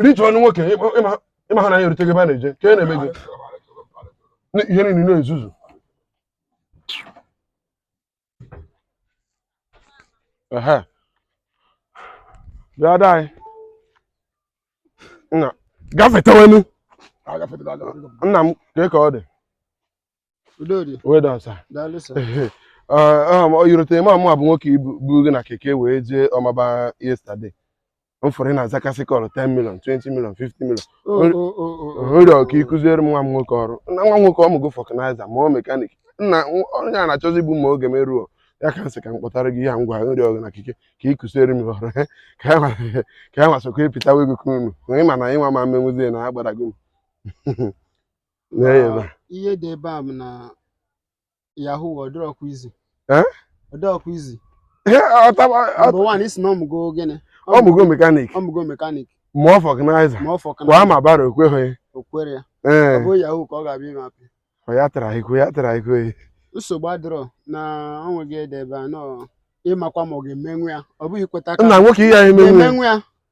rituo ọnụ nwoke ị mahụ na ya erute gị ebe a na-eje ka e na-eme gị ihe niile na-ezuzu ehe bịa ada anyị nna gafetewenu nna m ka ka ọ dị well done sir i rotere m ọ mụwa bụ nwoke buru gị na keke wee jee Ọmagba yesterday m fụrụ ị na-azakasị call 10 million 20 million 50 million nrịọ ka ị kụziere m nwa m nwoke ọrụ na nwa m nwoke ọ mụgo vulcanizer mụọ mechanic nna onye a na-achọzi igbu m ma oge m eruo ya ka m sị ka m kpọtara gị ya ngwa nrịọ gị na keke ka ị kụziere m ọrụ ka ya nwa sokwa ịpịtawa ego ka unu onye ma na mụnwa ama emenwuzie na agbadago m Nye ya ebe a. ihe dị ebe a bụ na yahoo ọ dịrọkwa easy Eh? ọ dịrọkwa easy Ihe ọtaba number one ị sị na ọ mụgo gịnị ọ mụgo mechanic ọ mụgo mechanic mụọ vulcanizer ma ọ fọ kwa ma bara okweghị o kwere ya ọ ee bụ yahoo ka ọ ga-abịa ime apị ọ ya tara ikwe ya tara ikwe nsogbu adịrọ na ọ nweghị ede ebe a nọ ị makwa ma ọ ga-emenwu ya ọ bụghị ikweta aka nna nwoke ihe anyị menwe emenwu ya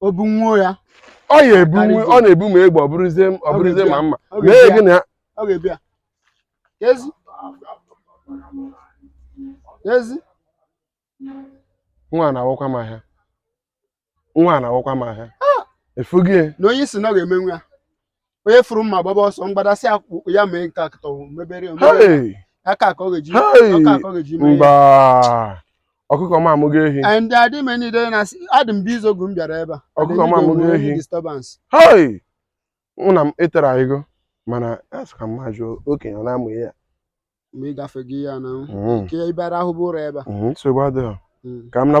o bunwuo ya ọ ya-ebu Karịzie. ọ na-ebu ma egbe ọ bụrụzie ọ bụrụzie ma mma ọ mee ga-ebi gị ya na ya ọ ga-ebi ya ezi ezi nwa a na-awakwa m ahịa nwa a na-awakwa m ahịa ị fụghị ya na onye ị sị na ọ ga-emenwu ya onye fụrụ mma gbaba ọsọ mgbadasị akwụkwọ ya mee nke akụtọ mebere omebere Hey! aka ka ọ ga-eji Hey! aka ka ọ ga-eji mee ya. mba ọkụkọ m amụgo ehi and adị m enyi na asị adị m busy oge m bịara ebe a Ọkụkọ m amụgo ehi. disturbance hei nna m ị tara ego mana asị ka mma jụọ okenye ọ na-amụ ihe ya ma ị gafe gị ya na Mhm, nke ị bịara ahụ abụrọ ebe a mhm, nsogbu adịghị Mm. ka m naba